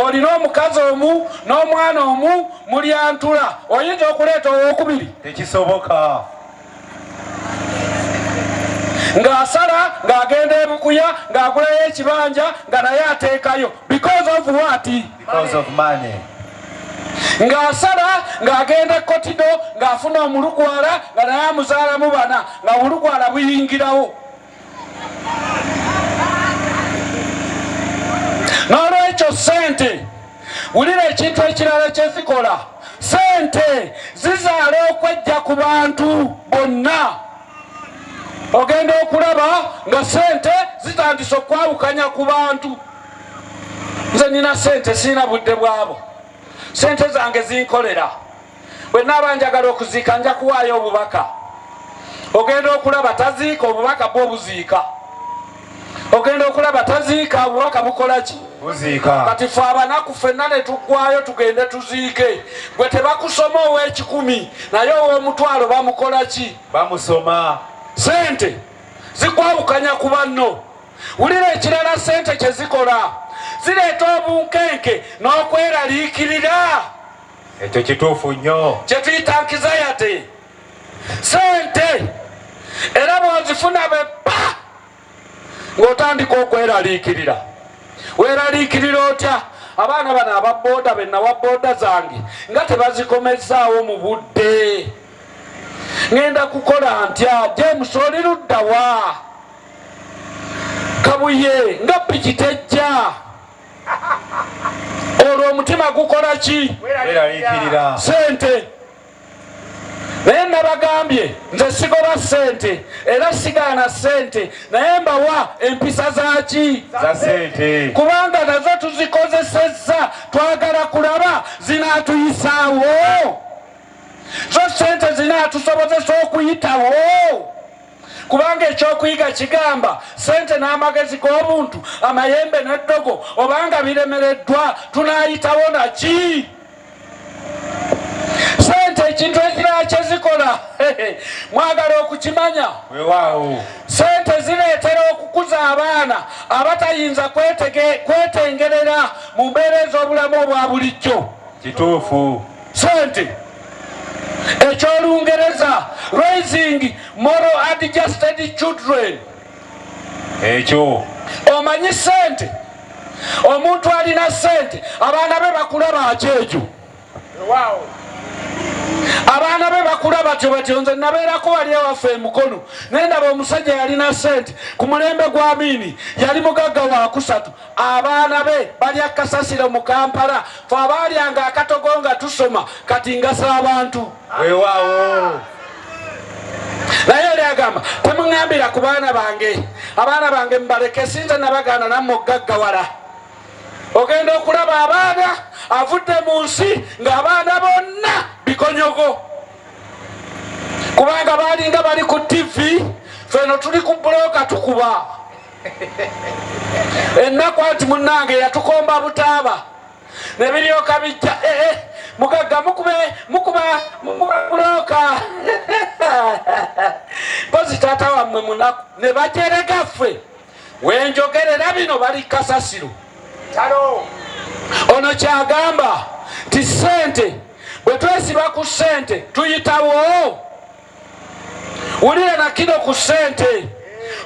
olina omukazi omu n'omwana omu mulyantula oyinza okuleeta owokubiri tekisoboka ng'asala ng'agenda ebukuya ng'agulayo ekibanja nga naye ateekayo because of what because of money ng'asala ng'agenda ekkotido ng'afuna omulukwala nga naye amuzaalamu bana nga obulukwala buyingirawo n'olwekyo ssente wulira ekintu ekirala kyezikola ssente zizaala okwejja ku bantu bonna ogenda okulaba nga ssente zitandise okwawukanya ku bantu nze nina ssente sirina budde bwabo ssente zange zinkolera bwe naaba njagala okuziika nja kuwaayo obubaka ogenda okulaba taziika obubaka bwo buziika ogenda okulaba taziika obubaka bukola ki kati fe abanaku fenna ne tuggwayo tugende tuziike gwe tebakusoma ow'ekikumi naye ow'omutwalo bamukola ki bamusoma sente zikwawukanya ku banno wulira ekirala sente kye zikola zireeta obunkenke n'okweraliikirira ekyo kituufu nnyo kyetuyita nkizayati sente era bwozifuna beppa ng'otandika okweraliikirira weraliikirira otya abaana bano aba booda benawa booda zange nga tebazikomezzaawo mu budde ŋenda kukola ntya james oli luddawa kabuye nga pikitejja olwo omutima gukola ki sente naye nabagambye nze sigoba sente era sigaana sente naye mbawa empisa zaki kubanga nazo tuzikozesezza twagala kulaba zinatuyisaawo zo sente zinatusobozesa okuyitawo kubanga ekyokuyiga kigamba sente n'amagezi g'obuntu amayembe n'eddogo obanga biremereddwa tunayitawo naki sente ekintu ekirala kyezikola mwagala okukimanya sente zireetera okukuza abaana abatayinza kwetengerera mu mbeera ez'obulamu obwa bulijjo kituufu sente ekyolungereza raising moral adjusted children ekyo omanyi sente omuntu alina sente abaana be bakula bakyejo abaana be bakula batyo batyo nze nabeerako wali ewaffe emukono naye ndaba omusajja yalina sente ku mulembe gwa miini yali mugagga wakusatu abaana be balya kasasiro mu kampala fe abaalyanga akatogo nga tusoma kati ngasa abantu wewaawo naye oli agamba temuŋambira ku baana bange abaana bange mubaleke sinza nabagaana nammwe okugaggawala ogenda okulaba abaana avudde mu nsi ng'abaana bonna bikonyogo kubanga baalinga bali ku tivi feno tuli ku bulooka tukuba ennaku anti munnange yatukomba butaaba ne biryoka bijja ee eh, eh, mugagga mukube mukuba mukuba bulooka mpozi taata wammwe munaku ne bajerega ffe wenjogerera bino bali kasasiro ono kyagamba nti ssente bwe twesiba ku ssente tuyitawo wulira nakino ku sente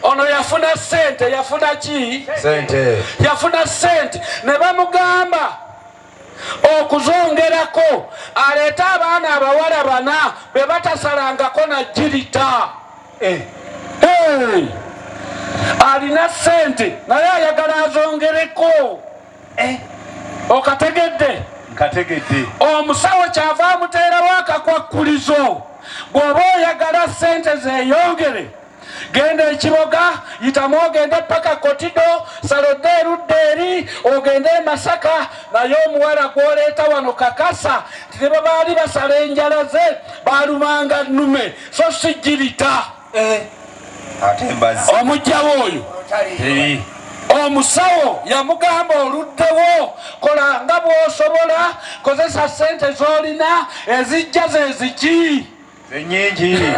ono yafuna sente yafuna ki sente yafuna sente ne bamugamba okuzongerako aleete abaana abawala bana be batasalangako na jirita eh. alina sente naye ayagala azongereko eh, okategedde nkategedde omusawo kyava amuteerawo akakwakkulizo bw'oba oyagala sente zeyongere genda ekiboga yitamu ogende paka kotido salodde erudda eri ogende emasaka naye omuwala gwoleeta wano kakasa nti ne babaali basala enjala ze balumanga nume so sijirita eh. omujjawo oyo omusawo yamugamba oluddewo kola nga bwosobola kozesa sente zolina ezijja zeziki enyingi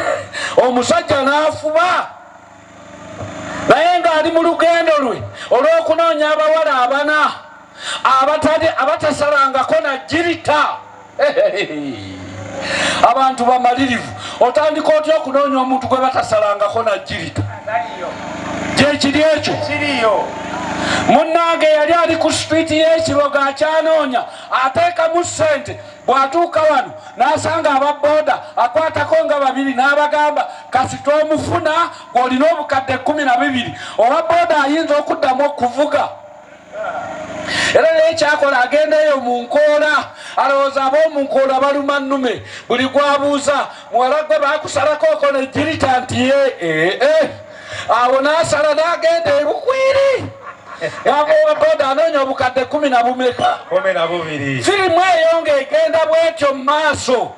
omusajja nafuba naye ngaali mu lugendo lwe olwokunoonya abawala abana abatade abatasalangako na jirita abantu bamalirivu otandika otya okunoonya omuntu gwe batasalangako na jirita gyekiri ekyo munnange yali ali ku sipiiti y'ekiboga akyanoonya ateekamu ssente bw'atuuka wano n'asanga aba booda akwatako nga babiri n'abagamba kasita omufuna ng'olina obukadde kkumi na bibiri owa booda ayinza okuddamu okuvuga era naye kyakola agendayo mu nkoola alowooza ab'omunkoola baluma nnume buli gwabuuza muwala gwe bakusalako okola ejjirita nti ye ee eh, eh. awo n'asala n'agenda ebukwiri yamuwa boda anoonya obukadde kumi na bumeka firimu eyo ng'egenda bwetyo mu maaso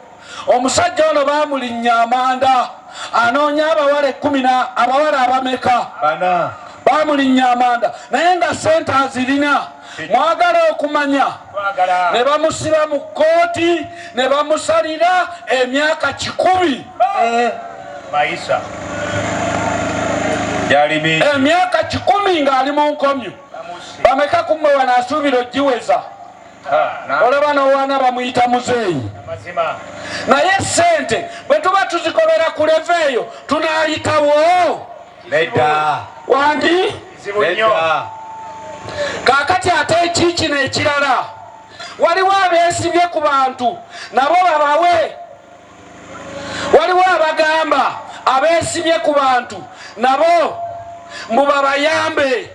Omusajja ono baamulinnya amanda anoonya abawala ekkumi na abawala abameka bana baamulinnya amanda naye nga sente azirina mwagala okumanya ne bamusiba mu kkooti ne bamusalira emyaka kikumi eh. mayisa emyaka kikumi ng'ali mu nkomyo bameka kumwe wanaasuubira ogiweza olaba nowaana bamuyita muzeeyi naye sente bwe tuba tuzikolera ku leva eyo tunayitawo nedda wandi kakati ate ekikino ekirala waliwo abeesibye ku bantu nabo babawe waliwo abagamba abeesibye ku bantu nabo mbu babayambe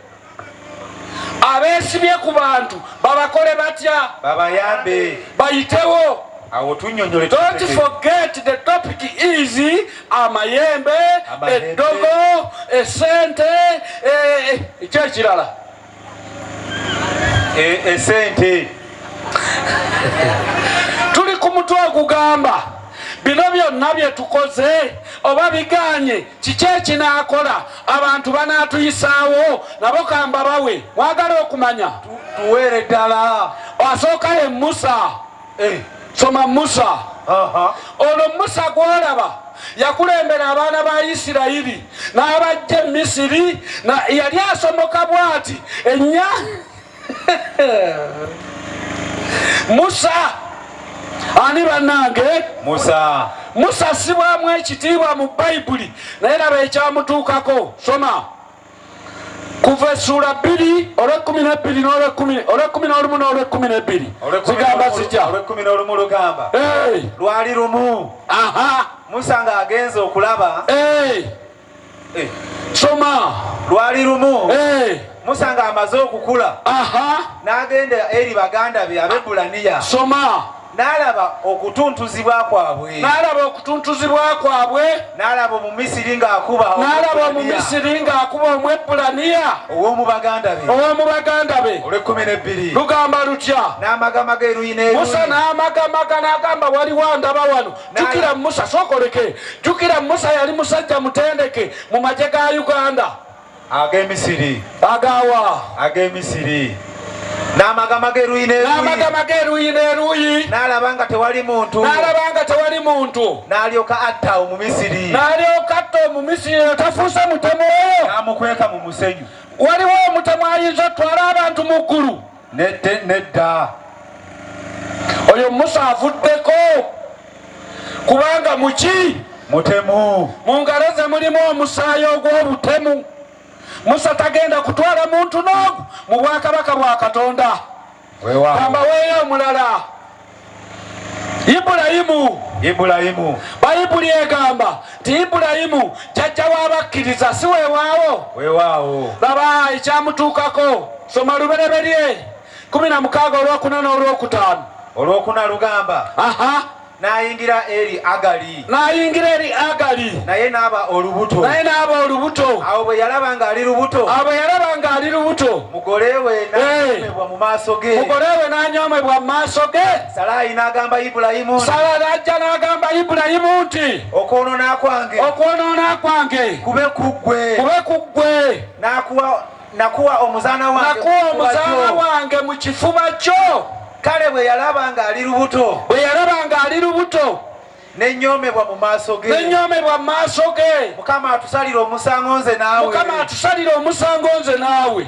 abeesibye ku bantu babakole batya babayambe bayitewo awo tunyonyole don't forget the topic is amayembe eddogo esente ekyekirala e, e, e, esente tuli ku mutwe ogugamba bino byonna bye tukoze oba biganye kiki ekinaakola abantu banaatuyisaawo nabo kamba bawe mwagala okumanya tuweere ddala asooka ye musa eh. soma musa olwo musa gwolaba yakulembera abaana ba isirayiri n'abajja e misiri yali asomoka bwati enya musa ani banange musa musa sibwamu ekitiibwa mu bayibuli naye laba ekyamutuukako soma kuva essuula bbiri olwekumi nebbiri olwekumi nolumu nolwekumi nebbiri zigamba zija olwekumi nolumu lugamba lwali lumu musa ng'agenze okulaba Eh. Soma. Lwali lumu. Eh. Musa nga amaze okukula. Aha. N'agenda eri baganda be Abebbulaniya. Soma. N'alaba okutuntuzibwa kwabwe. N'alaba okutuntuzibwa kwabwe. N'alaba Omumisiri ng'akuba N'alaba Omumisiri ng'akuba Omwebbulaniya. Ow'omu baganda be. Ow'omu baganda be. Olw'ekkumi n'ebbiri. Lugamba lutya? N'amagamaga eruyi n'eruyi. Musa n'amagamaga n'agamba waliwo andaba wano. jukira musa sokoleke jukira musa yali musajja mutendeke mu magye ga uganda agemisiri agawa agemisiri n'amagama geruyi n'eruyi n'alaba nga tewali muntu n'alaba nga tewali muntu n'alyoka atta omumisiri n'alyoka atta omumisiri otafuuse mutemu oyo n'amukweka mu musenyu waliwo omutemu ayinza otwala abantu mu ggulu nedda oyo musa avuddeko kubanga muki mutemu mu ngalo ze mulimu omusaayi ogw'obutemu musa tagenda kutwala muntu n'ogu mu bwakabaka bwa katonda ambaweeyo omulala Ibulayimu Ibulayimu Bayibuli egamba nti Ibulayimu jajja w'abakkiriza si weewaawo weewaawo laba ekyamutuukako soma lubereberye kumi na mukaaga olwokuna n'olwokutaano olwokuna lugamba aha n'ayingira eri agali n'ayingira eri Agali, naye n'aba olubuto. naye n'aba olubuto. Awo bwe yalaba ng'ali lubuto, Awo bwe yalaba ng'ali lubuto, mugole we Eh. n'anyomebwa mu maaso ge. mugole we n'anyoomebwa mu maaso ge. Salaayi n'agamba Ibulayimu nti, Sala n'ajja n'agamba Ibulayimu nti, okwonoona kwange okwonoona kwange kube ku ggwe, kube ku ggwe, nakuwa nakuwa omuzaana wange nakuwa mu kifuba omuzaana kyo." wange mu kifuba kyo. Kale bwe yalaba ng'ali lubuto, Bwe yalaba ng'ali lubuto, nenyoomebwa mu maaso ge nenyoomebwa mu maaso ge mukama atusalire omusango nze naawe mukama atusalire omusango nze naawe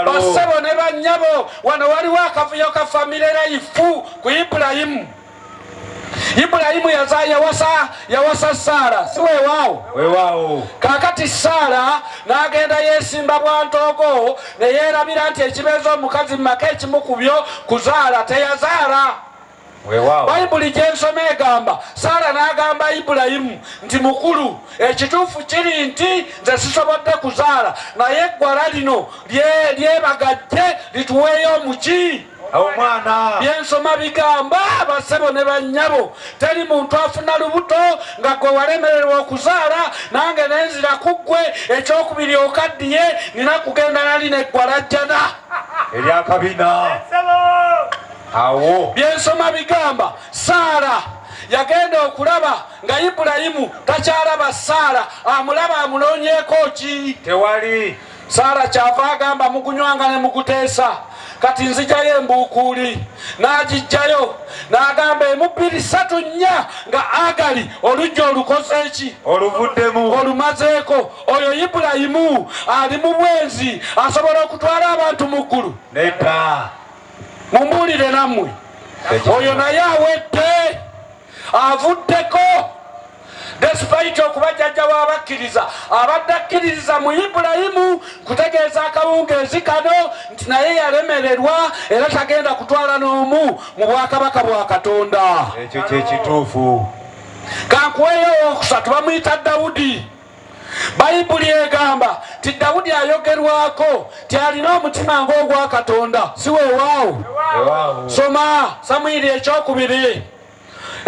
basebo ne bannyabo wano waliwo akavuyo ka famire layifu ku ibulayimu ibulayimu yaza yawasa yawasa saara si wewaawo wewaawo kakati saara n'agenda yeesimba bwantoogo ne yeerabira nti ekibeeza omukazi mu maka ekimukubyo kuzaala teyazaala bayibuli gyensoma egamba saala n'agamba ibulayimu nti mukulu ekituufu kiri nti nze sisobodde kuzaala naye eggwala lino lyebagajje lituweeyo omuki byensoma bigamba basebo ne bannyabo teri muntu afuna lubuto nga gwe walemererwa okuzaala nange nenzira ku ggwe ekyokubiri okaddiye nina kugenda nali neggwala jjana eryakabina awo byensoma bigamba saala yagenda okulaba nga ibulayimu takyalaba saala amulaba amunoonyeeko ki tewali saala kyava agamba mugunywanga ne muguteesa kati nzijayo embuukuuli n'agijjayo n'agamba emubbiri satu nnya nga agali olujja olukoze eki oluvuddemu olumazeeko oyo ibulayimu ali mu bwenzi asobola okutwala abantu mu ggulu nedda mumbuulire nammwe oyo naye awedde avuddeko despite okuba jjajja w'abakkiriza abadde akkiririza mu ibulayimu kutegeeza akawungeezi kano nti naye yalemererwa era tagenda kutwala n'omu mu bwakabaka bwa katonda ekyo kyekituufu kankuweyo owokusatu bamuyita dawudi bayibuli egamba ti dawudi ayogerwako ti alina omutima ng'ogwa katonda si wewaawo soma samwiri ekyokubiri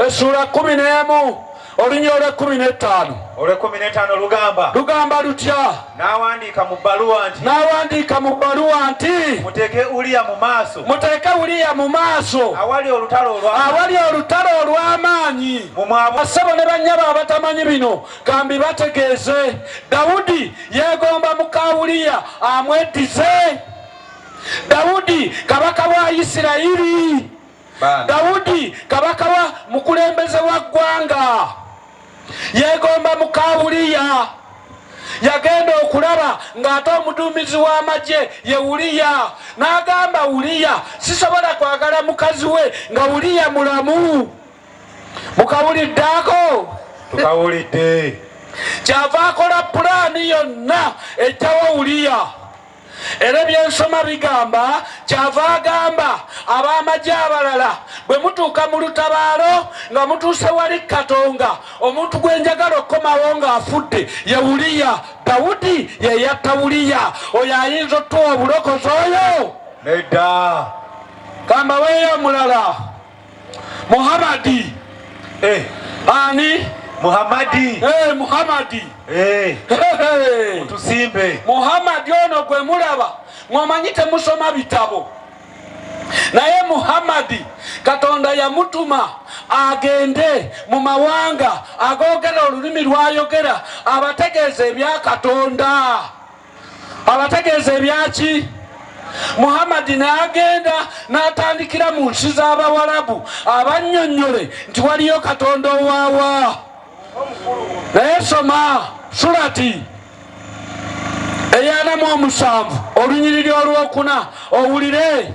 essuula kumi n'emu olunya olwekumi netaano olwekumi netaano lugamba lugamba lutya nawandiika mu bbaluwa nti nawandiika mu bbaluwa nti muteeke uliya mu maaso muteeke uliya mu maaso awali olutalo olwamaanyi mumwabasebo ne bannyabo abatamanyi bino Kambi bategeeze Dawudi yeegomba muka Uliya amweddize. Dawudi kabaka wa Isirayiri. Dawudi kabaka wa mukulembeze wa ggwanga yeegomba muka Uliya. yagenda okulaba ng'ate omuduumizi w'amagye ye uliya n'agamba uliya sisobola kwagala mukazi we nga uliya mulamu mukawulidde ako tukawulidde kyava akola pulaani yonna ejjawo wuliya era ebyensoma bigamba kyava agamba ab'amagye abalala bwe mutuuka mu lutabaalo nga mutuuse wali katonga omuntu gwe njagala okukomawo ng'afudde ye wuliya dawudi ye yatta wuliya oyo ayinza otuwa obulokozi oyo nedda kambaweeyo omulala Muhammadi eh, ani Muhammadi eh, Muhammadi eh, tusimbe Muhammadi ono gwe mulaba mwamanyi temusoma bitabo naye Muhammadi Katonda yamutuma agende mu mawanga agoogera olulimi lwayogera abategeeza ebya Katonda. abategeeza ebyaki muhammadi n'agenda n'atandikira mu nsi z'abawalabu abannyonnyole nti waliyo katonda owaawa naye soma surati eyanamu omusanvu olunyiriri olwokuna owulire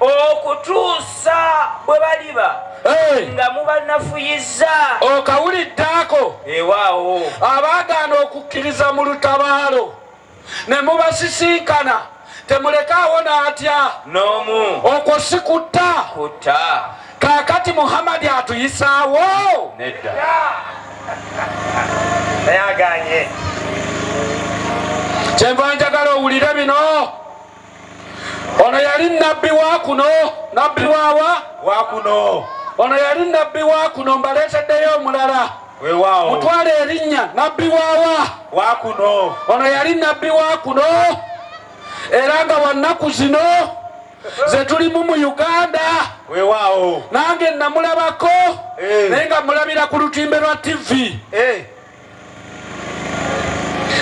okutuusa bwe baliba nga mubanafuyizza okawulidde ako ewaawo abaagaana okukkiriza mu lutabaalo ne mubasisinkana temulekaawo n'atya n'omu okwo si kutta kutta kaakati muhammadi atuyisaawo nedda ayaganye kyenva njagala owulire bino ono yali nabbi wa kuno nabbi wawa wa kuno ono yali nabbi wa kuno mbaleeteddeyo omulala wewaawo mutwala erinnya nabbi wawa wa kuno ono yali nabbi wa kuno era nga wannaku zino zetulimu mu uganda wewaawo nange namulabako eh. naye nga mulabira ku lutimbe lwa tivi eh.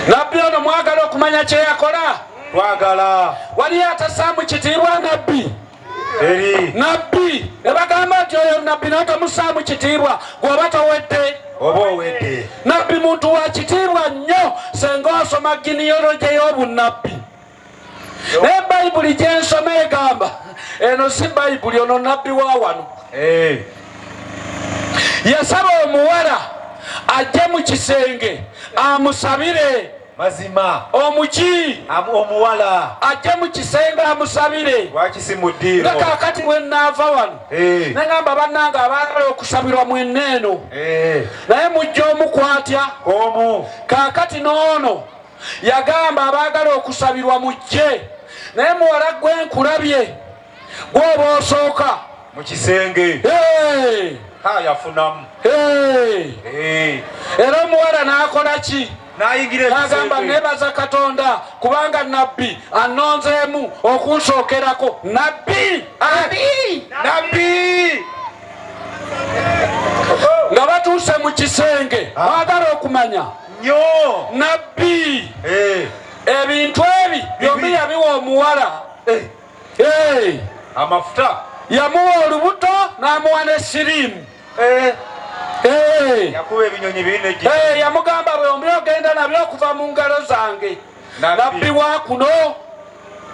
nabbi ono mwagala okumanya kyeyakola twagala waliyo atasaamu kitiibwa nabbi eri nabbi ne bagamba nti oyo nabbi naye tomusaamu kitiibwa gwoba towedde oba owedde nabbi muntu wa kitiibwa nnyo senga osoma giniyoloje y'obunnabbi naye bayibuli gyensoma egamba eno si bayibuli ono nabbi wa wano eh. yasaba omuwala ajje mu kisenge amusabire mazima omuki omuwala ajje mu kisenge amusabire nga kakati bwenaava wano eh. nagamba bannange abaagala okusabirwa mwenna eno eh. naye mujja omukwatya omu kakati n'ono Yagamba abaagala okusabirwa mujje, naye muwala gwe nkulabye gwoba osooka mu kisenge yafunamu era omuwala n'akola ki? agamba nebaza katonda kubanga nabbi anonzeemu okunsookerako nabbi nabbi nga batuuse mu kisenge mwagala okumanya nyo nabbi eh. ebintu ebi byombi yabiwa omuwala eh. Eh. amafuta yamuwa olubuto n'amuwa ne sirimu yakuba ebinyonyi bine yamugamba bwombi ogenda nabyo okuva mu ngalo zange nabbi wa kuno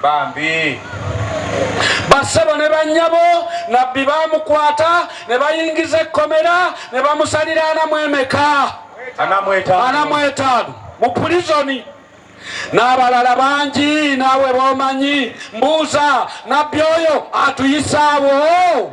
bambi basebo ne banyabo nabbi bamukwata ne bayingiza ekkomera ne bamusalira anamu emeka anamwetaano mu pulizoni n'abalala bangi naawe bomanyi mbuuza nabbi oyo atuyisaawo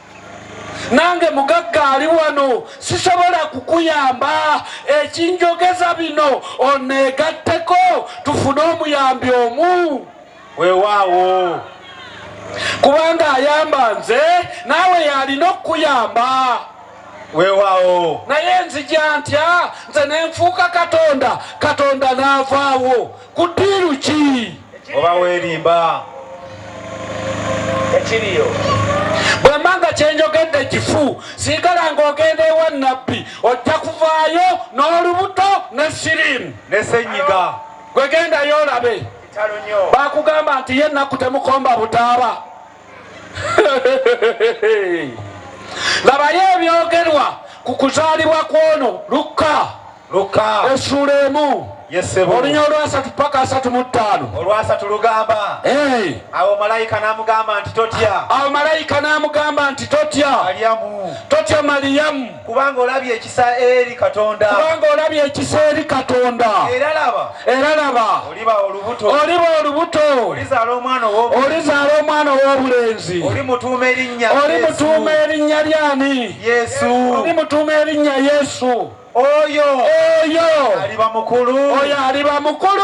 nange mugagga ali wano sisobola kukuyamba ekinjogeza bino oneegatteko tufune omuyambi omu wewaawo kubanga ayamba nze naawe yalina okukuyamba wewaawo naye nzija ntya nze nenfuuka katonda katonda n'avaawo ku diiru ki oba weerimba ekiriyo bwemba nga kyenjogedde kifu sigala ng'ogenda ewa nabbi ojja kuvaayo n'olubuto ne sirimu ne senyiga gwegendayo olabe bakugamba nti ye ennaku temukomba butaaba labayo ebyogerwa ku kuzaalibwa kw'ono lukka lukka essuula emu olunya olwasatu paka asatu mu ttaano olwasatu lugamba awo malayika n'amugamba nti totya awo malayika n'amugamba nti totya totya maliyamu kubanga olabye ekisa eri katonda kubanga olabye ekisa eri katonda era laba era laba oliba olubuto oliba olubuto olizaala omwana ow'obulenzi olizaala omwana ow'obulenzi olimutuuma erinnya olimutuuma erinnya lyani yesu olimutuuma erinnya yesu oyo oyo aliba mukulu oyo aliba mukulu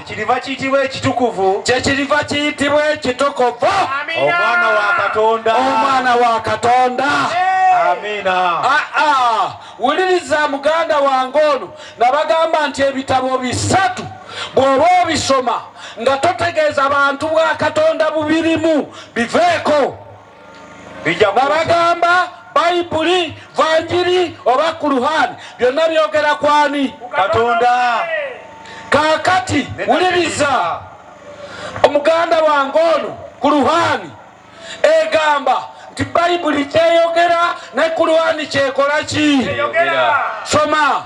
kiriva kiyitibwa ekitukuvu kyekiriva kiyitibwa ekitukuvu omwana wa katonda omwana wa katonda amiina ah, ah. wuliriza muganda wange ono nabagamba nti ebitabo bisatu bw'oba obisoma nga totegeeza bantu bwa katonda bubirimu biveeko babagamba bayibuli vanjiri oba kuluhani byonna byogera kwani katonda kakati wuliriza omuganda wange ono kuluhani egamba nti bayibuli kyeyogera ne kuluhani kyekola ki soma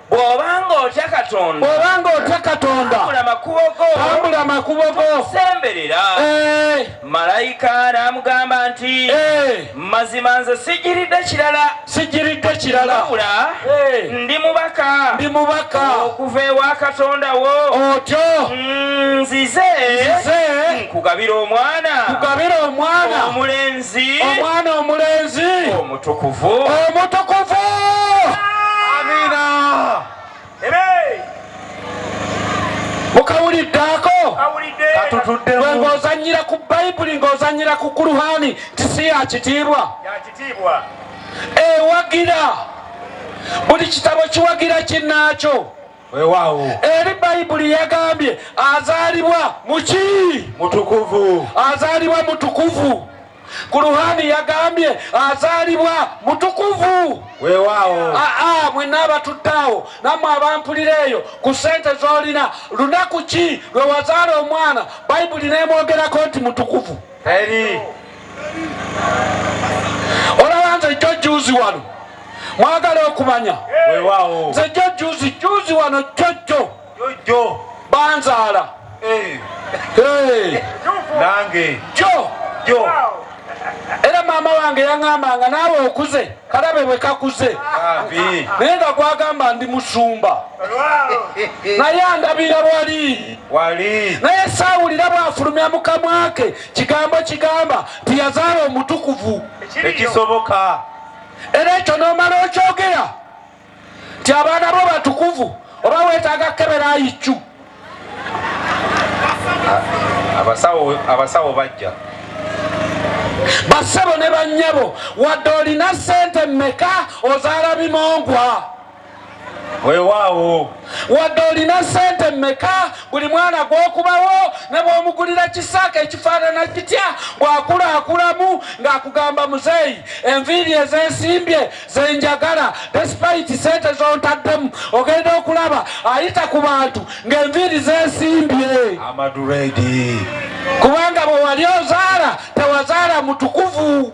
bw'obanga otya katonda bw'obanga otya katonda tambula makubo go tambula makubo go semberera eh. malayika n'amugamba nti eh. mazima nze sigiridde kirala sigiridde kirala wabula eh. ndi mubaka ndi mubaka okuva ewa katonda wo otyo mm, nzize nkugabira omwana nkugabira omwana omulenzi omulenzi omwana omulenzi omutukuvu omutukuvu amina mukawuliddeako bwe ng'ozanyira ku bayibuli ng'ozanyira ku kuruhani tisi ya kitiibwa ewagira buli kitabo kiwagira kinnaakyo Weewaawo. Eri Bayibuli yagambye azaalibwa mu ki? Mutukuvu. Azaalibwa mutukuvu. Kuruhani yagambye azaalibwa mutukuvu. Weewaawo. Aa mwenna abatudde awo nammwe abampulira eyo ku ssente z'olina lunaku ki lwe wazaala omwana Bayibuli n'emwogerako nti mutukuvu? Eri. Olaba nze jjo juzi wano mwagala okumanya nze jjo juzi juzi wano jjojjo jjo banzaala eh. eh. nange jjo jjo era maama wange yaŋamba nga naawe okuze kalabe bwe kakuze naye nga gwagamba ndi musumba naye andabira wali wali naye saawulira bw'afulumya mu kamwa ke kigambo kigamba nti yazaala omutukuvu ekisoboka era ekyo n'omala okyogera nti abaana bo batukuvu oba weetaaga kukebera ayiccu abasawo bajja bassebo ne bannyabo wadde olina ssente mmeka ozaala bimongwa weewaawo wadde olina sente mmeka buli mwana gw'okubawo ne bw'omugulira kisaaka ekifaanana kitya bw'akulaakulamu ng'akugamba muzeeyi enviiri ezeesimbye ze njagala despite sente z'ontaddemu ogenda okulaba ayita ku bantu ng'enviiri zeesimbye amaduredi kubanga bwe wali ozaala tewazaala mutukuvu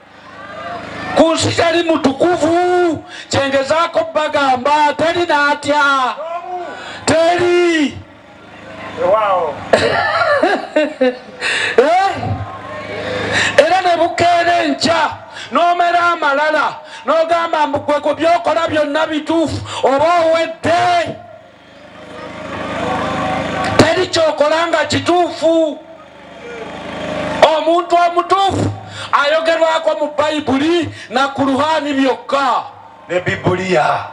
ku nsi tali mutukuvu kyengezaako bagamba teri natya teri eh? era ne bukeera enkya n'omera amalala n'ogamba mbugwe ku byokola byonna bituufu oba owedde teri kyokola nga kituufu omuntu omutuufu ayogerwako mu bayibuli na kuruhani byokka ne bibuliya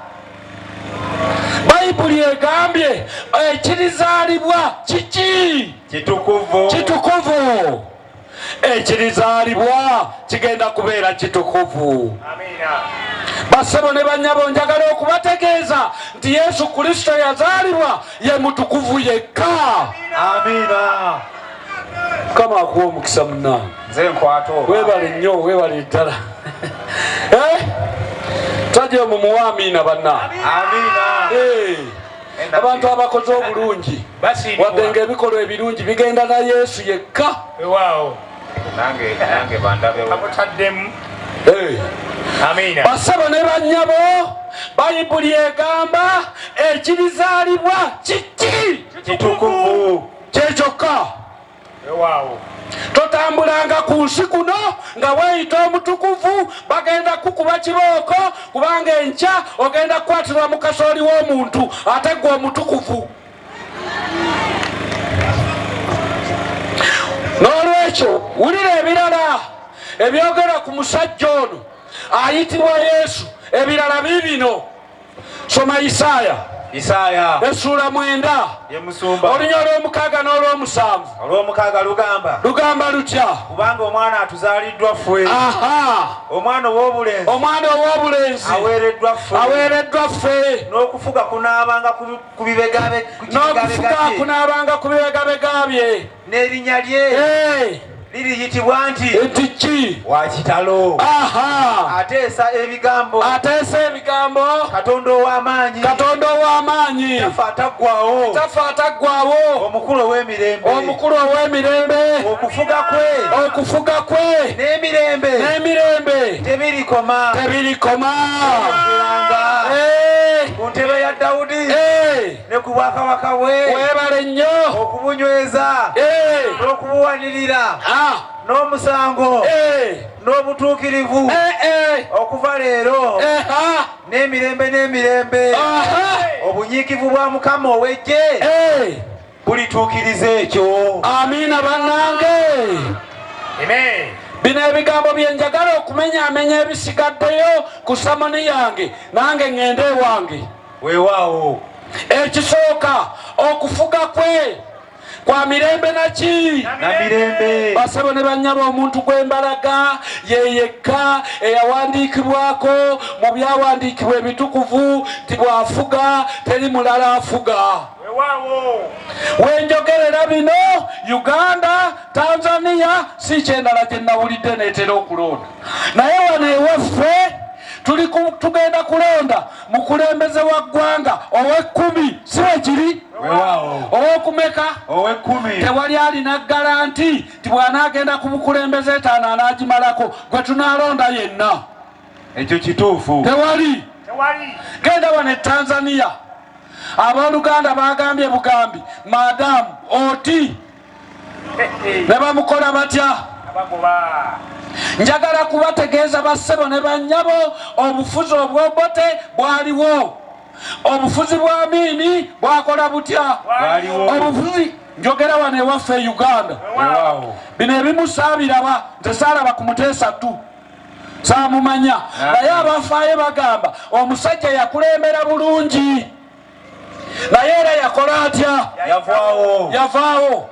bayibuli egambye ekirizaalibwa kiki kitukuvu ekirizaalibwa kigenda kubeera kitukuvu basebo ne banyabo njagala okubategeeza nti yesu kristo yazaalibwa ye mutukuvu yekka amiina mukama akuwa omukisa munange nze nkwato webale nnyo webale ddala eh? tajemu muwa amiina banna amiina eh. abantu abakoze obulungi wadde ngaebikolwa ebirungi bigenda na yesu yekka basaba ne banyabo bayibuli egamba ekibizaalibwa kiki kitukuvu kyekyokka Ewaawo. totambulanga ku nsi kuno nga weeyita omutukuvu bagenda kukuba kibooko kubanga enkya ogenda kukwatirwa mu kasooli w'omuntu ate gwe omutukuvu n'olwekyo wulira ebirala ebyogera ku musajja ono ayitibwa yesu ebirala biibino soma isaaya isaaya essuula mwenda yemusumba olunya olw'omukaaga n'olw'omusanvu olw'omukaaga lugamba lugamba lutya kubanga omwana atuzaaliddwa ffe omwana ow'obulenzi omwana ow'obulenzi aweereddwa ffe aweereddwa ffe n'okufuga kunaabanga ku bibegabega bye n'erinnya lye eh. liriyitibwa nti nti ki wakitalo ateesa ebigambo ateesa ebigambo katonda ow'amaanyi katonda ow'amaanyi tafa ataggwawo tafa ataggwawo omukulu ow'emirembe omukulu ow'emirembe okufuga kwe okufuga kwe n'emirembe n'emirembe tebirikoma tebirikoma eh. ku ntebe ya dawudi eh. ne ku bwakabaka bwe webale nnyo okubunyweza eh. n'okubuwanirira ah. n'omusango eh. n'obutuukirivu eh, okuva leero ah. n'emirembe n'emirembe obunyiikivu bwa mukama ow'eggye bulituukiriza ekyo amiina bannange bino ebigambo byenjagala okumenyaamenya ebisigaddeyo ku samoni yange nange ŋŋende ewange weewaawo ekisooka okufuga kwe kwa mirembe naki namirembe basabo ne banyaba omuntu gwembalaga yeyekka eyawandiikibwako mu byawandiikibwa ebitukuvu nti bwafuga teri mulala afuga wenjogerera bino uganda tanzania si kyendala gye nawulidde netera okulonda naye wano ewaffe tugenda kulonda mukulembeze wa ggwanga ow'ekkumi si bwe kiri ow'okumeka ow'ekkumi tewali alina garanti nti bw'anaagenda ku bukulembeze etaano anaagimalako gwe tunaalonda yenna ekyo kituufu tewali genda wano e tanzania abooluganda baagambye bugambi madamu oti ne bamukola batya njagala kubategeeza bassebo ne bannyabo obufuzi obwobote bwaliwo obufuzi bwa miini bwakola butya obufuzi njogera wano ewaffe e uganda bino ebimusaabiraba nze saalaba ku muteesa tu saamumanya naye abafaayo bagamba omusajja yakulembera bulungi naye era yakola atya yavaawo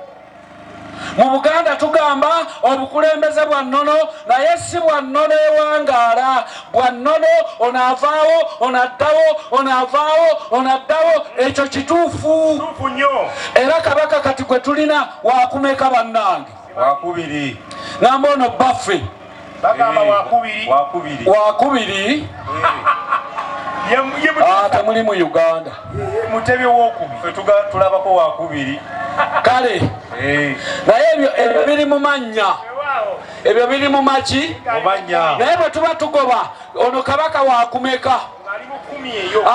mu buganda tugamba obukulembeze bwa nnono naye si bwa nnono ewangaala bwa nnono onaavaawo onaddawo onaavaawo onaddawo ekyo kituufu era kabaka kati gwe tulina wakumeka bannange wakubiri namba ono baffe bagamba wakubiri wakubiri wakubiri ah, temuli mu uganda mutebi wokubiri fetuga tulabako wakubiri kale eh. naye ebyo ebyo biri mu mannya ebyo biri mu maki naye bwe tuba tugoba ono kabaka wakumeka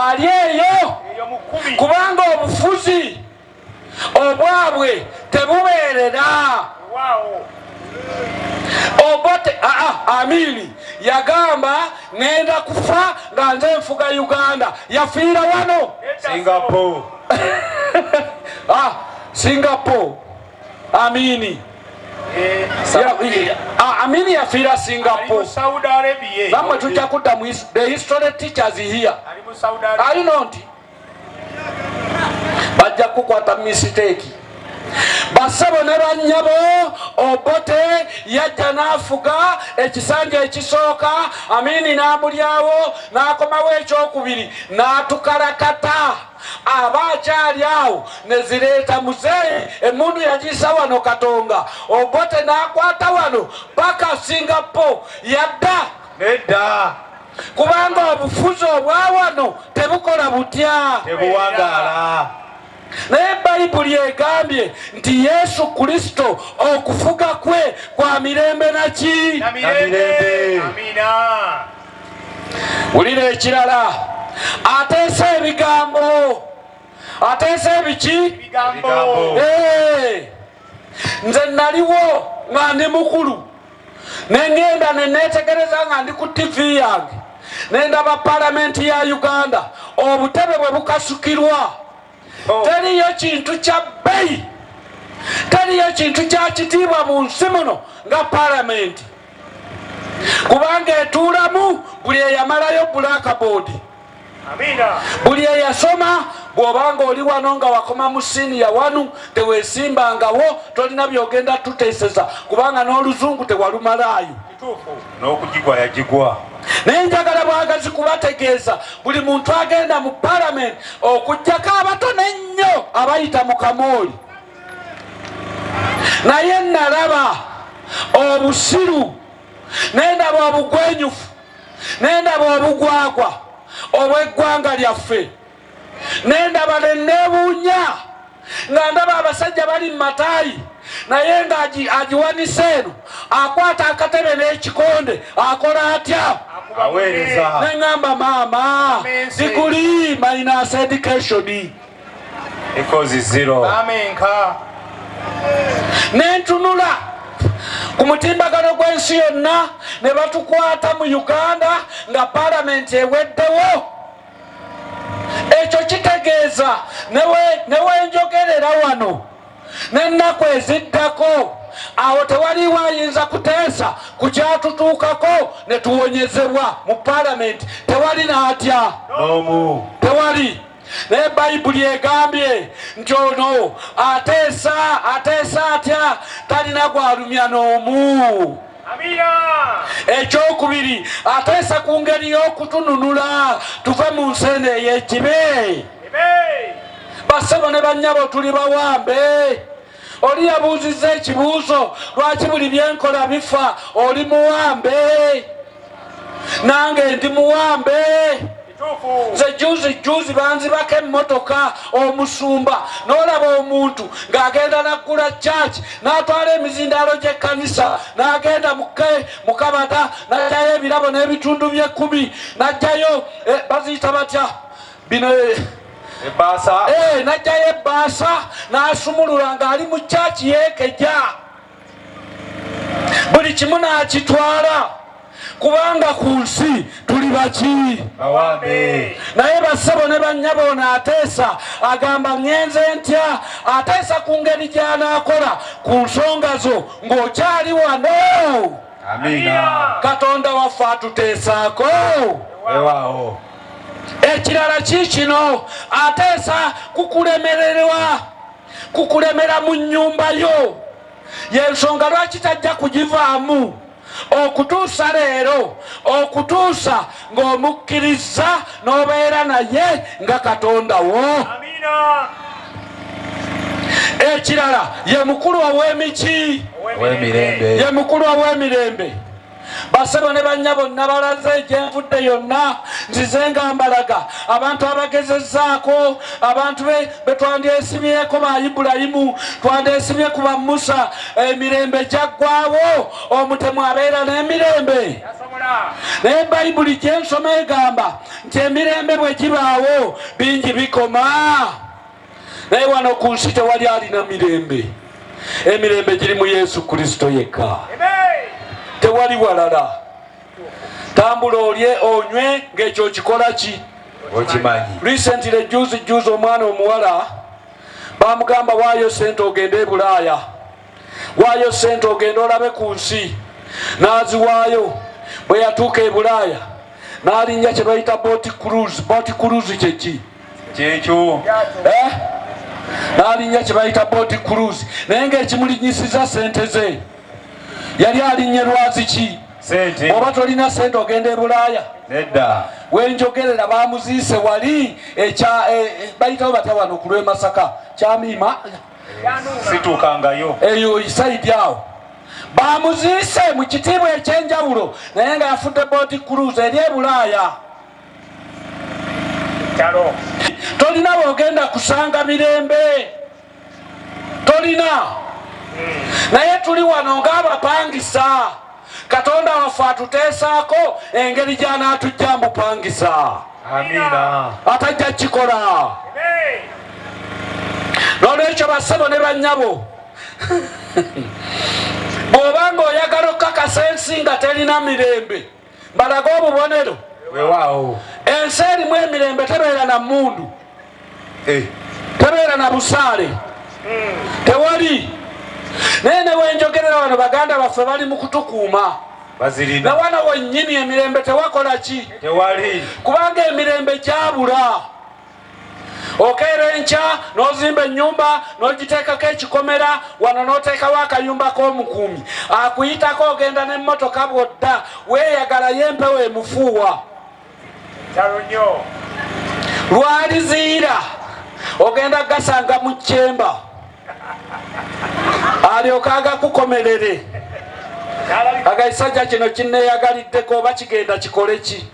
ali eyo kubanga obufuzi obwabwe tebubeerera obote aa ah, ah, amini yagamba ngenda kufa nga nze nfuga uganda yafiira wano singapore ah, singapore amini eh, ah, amini yafiira singapore bamwe tujja kudda mu the history teachers here ali nonti bajja kukwata misiteeki basebo ne bannyabo obote yajja n'afuga ekisanja ekisooka amini n'amulyawo n'akomawo ekyokubiri n'atukalakata aba akyali awo nezireeta muzeeyi emundu yagiisa wano katonga obote n'akwata wano paka singapo yadda nedda kubanga obufuzi obwawano tebukola butya tebuwangala naye bayibuli egambye nti yesu kristo okufuga kwe kwa mirembe naki wulira ekirala ateesa ebigambo ateesa ebiki ebigambo hey. nze naliwo nga ndi mukulu nengenda nenetegereza nga ndi ku tivi yange nendaba palamenti ya uganda obutebe bwe bukasukirwa oh. teriyo kintu kya bbeyi teriyo kintu kya kitiibwa mu nsi muno nga palamenti kubanga etuulamu buli eyamalayo blackboard buli eyasoma bw'obanga oli wano nga wakoma mu siniya wanu teweesimbangawo tolina byogenda tuteeseza kubanga n'oluzungu tewalumalaayo n'okugigwa yagigwa naye njagala bwagazi kubategeeza buli muntu agenda mu palamenti okugyako abatono ennyo abayita mu kamooli naye nalaba obusiru nendaba obugwenyufu nendaba obugwagwa obweggwanga lyaffe nendaba nenebuunya nga ndaba abasajja bali mu mataayi naye nga agiwanise eno akwata akatebe n'ekikonde akola atya neŋamba maama diguli minus education ikozi zero amenka nentunula ku mutimbagano gw'ensi yonna ne batukwata mu uganda nga palamenti eweddewo ekyo kitegeeza newenjogerera wano n'ennaku eziddako awo tewaliwo ayinza kuteesa ku kyatutuukako ne tuwonyezebwa mu palamenti tewali n'atya tewali naye bayibuli egambye nti ono ateesa ateesa atya talina gwalumya n'omu ekyokubiri ateesa ku ngeri y'okutununula tuve mu nseena ey'ekibe basebo ne bannyabo tuli bawambe Oli yabuuzizza ekibuuzo lwaki buli byenkola bifa oli muwambe nange ndi muwambe nze juzi juzi banzibako emmotoka omusumba n'olaba omuntu ng'agenda naggula kyaki n'atwala emizindaalo gy'ekkanisa n'agenda muke mukabata n'ajjayo ebirabo n'ebitundu by'ekkumi n'ajjayo eh, baziyita batya bino ebbaasa eh, najjayo ebbaasa n'asumulula ng'ali mu kyaki yeekeja buli kimu n'akitwala kubanga ku nsi tuli baki naye bassebo ne bannyabo ono ateesa agamba ŋenze ntya ateesa ku ngeri gy'anaakola ku nsonga zo ng'okyali wano katonda waffe atuteesaako Ekirala kiikino ateesa ku kulemererwa ku kulemera mu nnyumba yo, y'ensonga lwaki tajja kugivaamu okutuusa leero, okutuusa ng'omukkirizza n'obeera naye nga Katonda wo. Ekirala ye mukulu ow'emiki, ye mukulu ow'emirembe. basebo ne bannya bonna balaze gyenvudde yonna nzize nga mbalaga abantu abagezezaako abantu betwandyesimyeko ba ibulayimu twandyesimye ku ba musa emirembe gyaggwawo omutemu abeera n'emirembe naye bayibuli gyensoma egamba nti emirembe bwe gibaawo bingi bikoma naye wano ku nsi tewali alina mirembe emirembe giri mu yesu kristo yekka tewali walala tambula olye onywe ng'ekyo okikola ki okimanyi recently juzi juzi omwana omuwala bamugamba waayo sente ogende e bulaaya waayo sente ogenda olabe ku nsi n'aziwaayo bwe yatuuka e bulaaya n'alinnya kye bayita boti cruise boti cruise kyeki kyekyo eh? n'alinnya kye bayita boti cruise naye ng'ekimulinyisiza sente ze yali alinnye lwazi ki oba tolina sente ogenda e bulaaya nedda wenjogerera bamuziise wali ekya eh, eh, bayitawo batya wano ku lw'e masaka kyamiima situukangayo eyo isaidi awo bamuziise mu kitiibwa ekyenjawulo naye nga yafudde bodi cruz eri ebulaaya tolina wogenda kusanga mirembe tolina hmm. naye tuli wano ng'abapangisa Katonda waffe atuteesaako engeri gy'anaatujja mbupangisa. Amiina. Atajja kukikola. N'olwekyo bassebo ne bannyabo bw'oba ng'oyagala okukakasa ensi nga terina mirembe balaga obubonero. Ensi erimu emirembe tebeera na mmundu. eh. tebeera na busaale hmm. tewali naye newenjogerera wano baganda baffe bali mu kutukuuma na wana wennyini emirembe tewakola ki kubanga emirembe gyabula okeera enkya n'ozimba ennyumba n'ogiteekako ekikomera wano n'oteekawo akayumba k'omukuumi akuyitako ogenda n'emmotoka bwodda weeyagalayo empewo emufuuwa lwaliziira ogenda gasanga mu kyemba alyoka agakukomerere agaisajja kino kineyagaliddeko oba kigenda kikole ki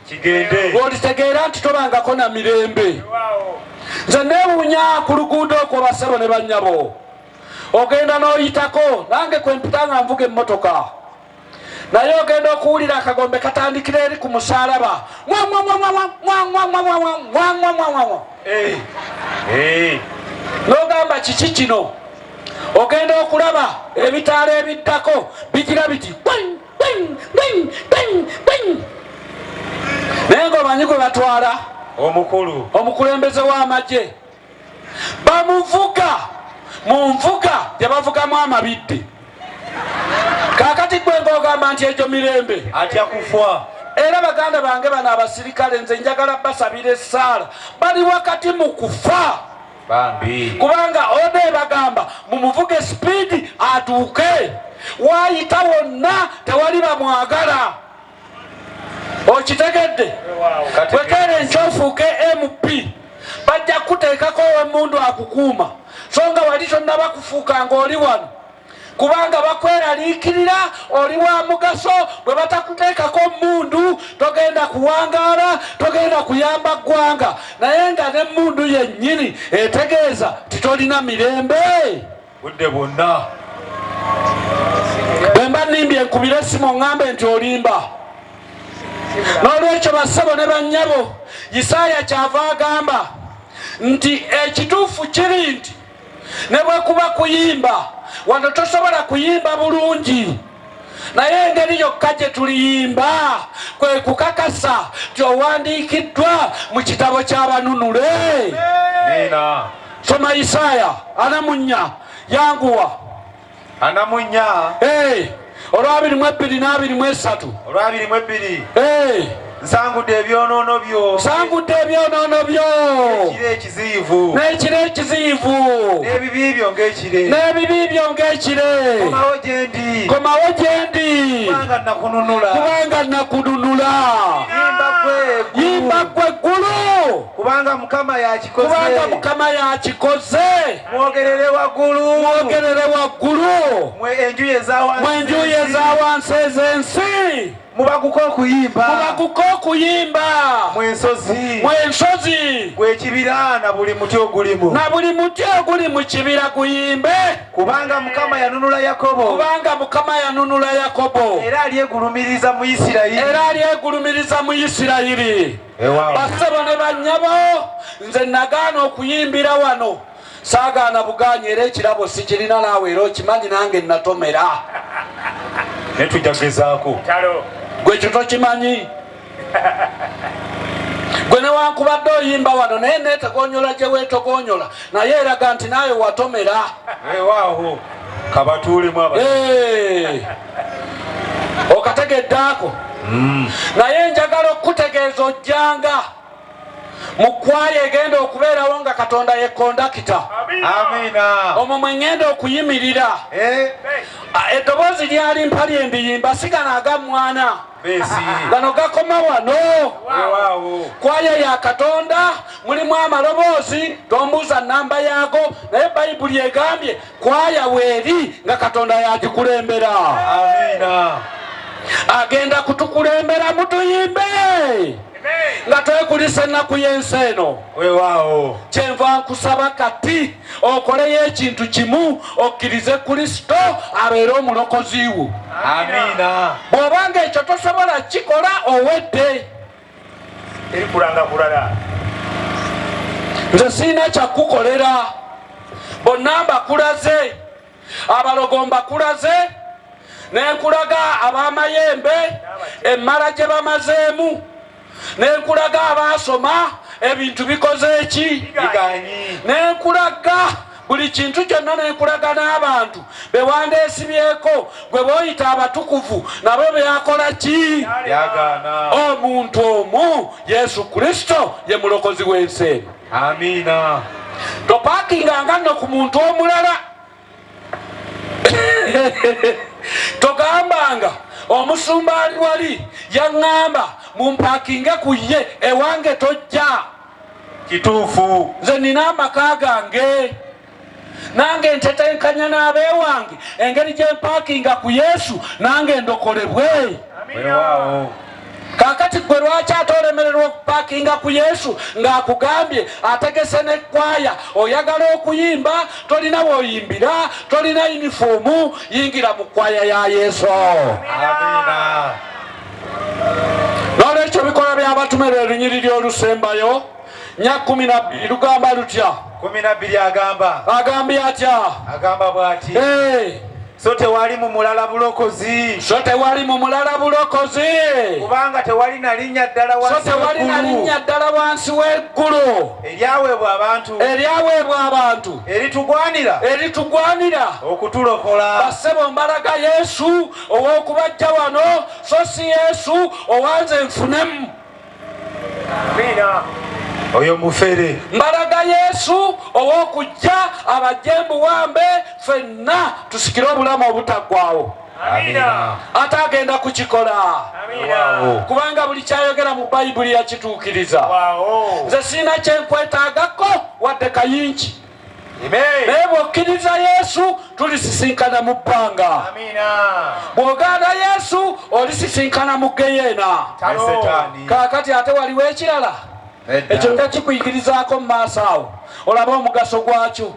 olitegeera nti tobangako na mirembe nze newunya ku luguudo okwo basebo ne banyabo ogenda n'oyitako nange kwempita nga nvuga emmotoka naye ogenda okuwulira akagombe katandikira eri ku musalaba nogamba kiki kino ogenda okulaba ebitaala ebiddako bigira biti naye nga omanyi gwe batwala omukulu omukulembeze w'amagye bamuvuga mu nvuga gyebavugamu amabidde kakati gwe ngaogamba nti egyo mirembe atya kufa era baganda bange bano abasirikale nze njagala basabira essaala bali wakati mu kufa kubanga oda ebagamba mumuvuge sipiidi atuuke waayita wonna tewali bamwagala okitegedde wekere nkyofuuke mp bajja kukuteekako owemundu akukuuma so nga wali tonnaba kufuuka nga oli wano kubanga bakweraliikirira oli wa mugaso bwe batakuteekako mundu togenda kuwangaala togenda kuyamba ggwanga naye nga ne mundu yennyini etegeeza titolina mirembe budde bwonna bwemba nimbye nkubira esimu ŋŋambe nti olimba n'olwekyo bassebo ne bannyabo isaaya kyava agamba nti ekituufu kiri nti ne bwe kuba kuyimba wano tosobola kuyimba bulungi naye engeri yokka gye tuliyimba kwe kukakasa nti owandiikiddwa mu kitabo ky'abanunule soma isaaya anamunya yanguwa anamunya olwabiri mu ebbiri n'abiri mu esatu olwabiri mu ebbiri nsangudde ebyonoono byo nsangudde ebyonoono byo ekiro ekiziyivu n'ekiro ekiziyivu n'ebibi byo ng'ekire n'ebibi byo ng'ekire komawo gye ndi komawo gye ndi kubanga nakununula kubanga nakununula yimba gwe yimba gwe ggulu kubanga mukama yakikoze kubanga mukama yakikoze mwogerere waggulu mwogerere waggulu mwe enjuyi eza wansi ez'ensi mubaguka okuyimba mubaguka okuyimba mwensozi mwensozi gwekibira na buli muti ogulimu na buli muti oguli mu kibira guyimbe kubanga mukama yanunula yakobo kubanga mukama yanunula yakobo era alyegulumiriza mu isirayiri era alyegulumiriza mu isirayiri basebo ne banyabo nze nagaana okuyimbira wano saagaana bugaanyi era ekirabo sikirina naawe era okimanyi nange natomera naye tujja kugezaako gwe kyo tokimanyi gwe newankubadde oyimba wano naye netegonyola gye weetogonyola naye eraga nti naawe watomera ewaawo kabatuulemu aba okategedde ako hmm. naye njagala okukutegeeza ojjanga mu kkwaaya egenda okubeerawo nga katonda ye kondakita omwo mwe ŋŋenda okuyimirira eh. eddoboozi lyali mpali embiyimba sigana aga mwana gano gakoma wano kwaya ya katonda mulimu amaloboozi tombuuza namba yaago naye bayibuli egambye kwaya weeri nga katonda yagikulembera agenda kutukulembera mutuyimbe nga twekulisa ennaku y'ensi eno wewaawo kyenva nkusaba kati okoleyo ekintu kimu okkirize kristo abeere omulokozi wo amiina bw'obanga ekyo tosobola kikola owedde eri kulanga bulala nze sirina kyakukolera bonna mbakulaze abalogo mbakulaze nenkulaga abamayembe emmala gye bamazeemu nenkulaga abaasoma ebintu bikoze eki nenkulaga buli kintu kyonna nenkulaga n'abantu bewandeesibyeko gwe boyita abatukuvu nabo byakola ki omuntu omu yesu kristo ye mulokozi w'ensi eno amiina topakinganga nno ku muntu omulala togambanga omusumba ali wali yaŋŋamba mumpakinge ku ye ewange tojja kituufu nze nina amaka gange nange ntetenkanya n'abeewange engeri gye mpaakinga ku yesu nange ndokolebwe kakati gwe lwaki ate olemererwa okupakinga ku yesu ng'akugambye ategese nekwaya oyagala okuyimba tolina woyimbira tolina yunifoomu yingira mu kwaya ya yesu Amina. n'olwekyo bikola by'abatume lwe lunyiriri olusembayo nya kumi nabbiri lugamba lutya kumi nabbiri agamba agambye atya agamba bw'ati so tewali mu mulala bulokozi so tewali mu mulala bulokozi kubanga tewali na linnya ddala wansi so tewali na linnya ddala wansi w'eggulu eryaweebwa abantu eryaweebwa abantu eritugwanira eritugwanira okutulokola bassebo mbalaga yesu ow'okubajja wano so si yesu owanze nfunemu oyo mufere mbalaga yesu ow'okujja abajje mbuwambe fenna tusikire obulamu obutaggwawo ate agenda kukikola kubanga buli kyayogera mu bayibuli yakituukiriza nze siina kyenkwetaagako wadde kayingi naye bw'okkiriza yesu tulisisinkana mu bbanga bw'ogaana yesu olisisinkana mu geyeena kaakati ate waliwo ekirala ekyo nga kikuyigirizaako mu maaso awo olaba omugaso gwakyo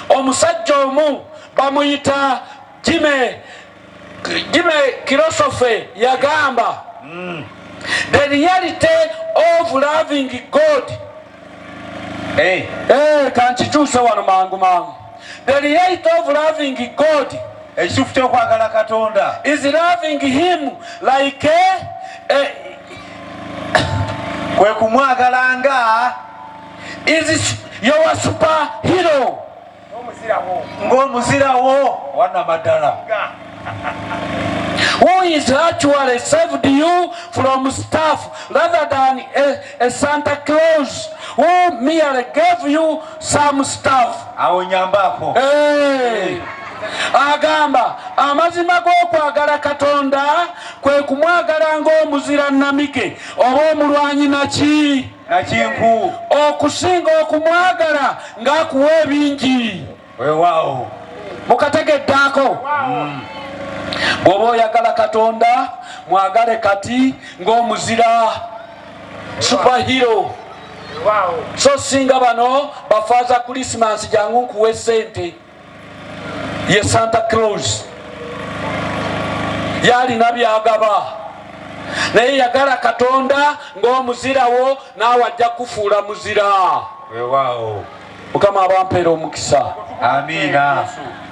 omusajja omu bamuyita Jimmy, Jimmy Kilosofe yagamba mm. the reality of loving God hey. Eh. Hey, eh, kankikyuse wano mangu mangu the reality of loving God ekituufu kyokwagala katonda is loving him like a, a, kwe kumwagalanga is your super hero ng'omuzirawo wanamaddala who is actually saved you from stuff rather than a, a Santa Claus who merely gave you some stuff. Awonyambako. Hey. Eh. agamba amazima g'okwagala katonda kwe kumwagala ng'omuzira namige oba omulwanyi naki nakinku okusinga okumwagala ng'akuwa ebingi wewaawo mukategeddaako mm. bw'oba oyagala katonda mwagale kati ng'omuzira supahiro so singa bano bafaaza kulisimansi jangu nkuwa esente ye santa claus yalina byagaba naye yagala katonda ng'omuzirawo naawe ajja kufuula muzira mukama abampeera omukisa amiina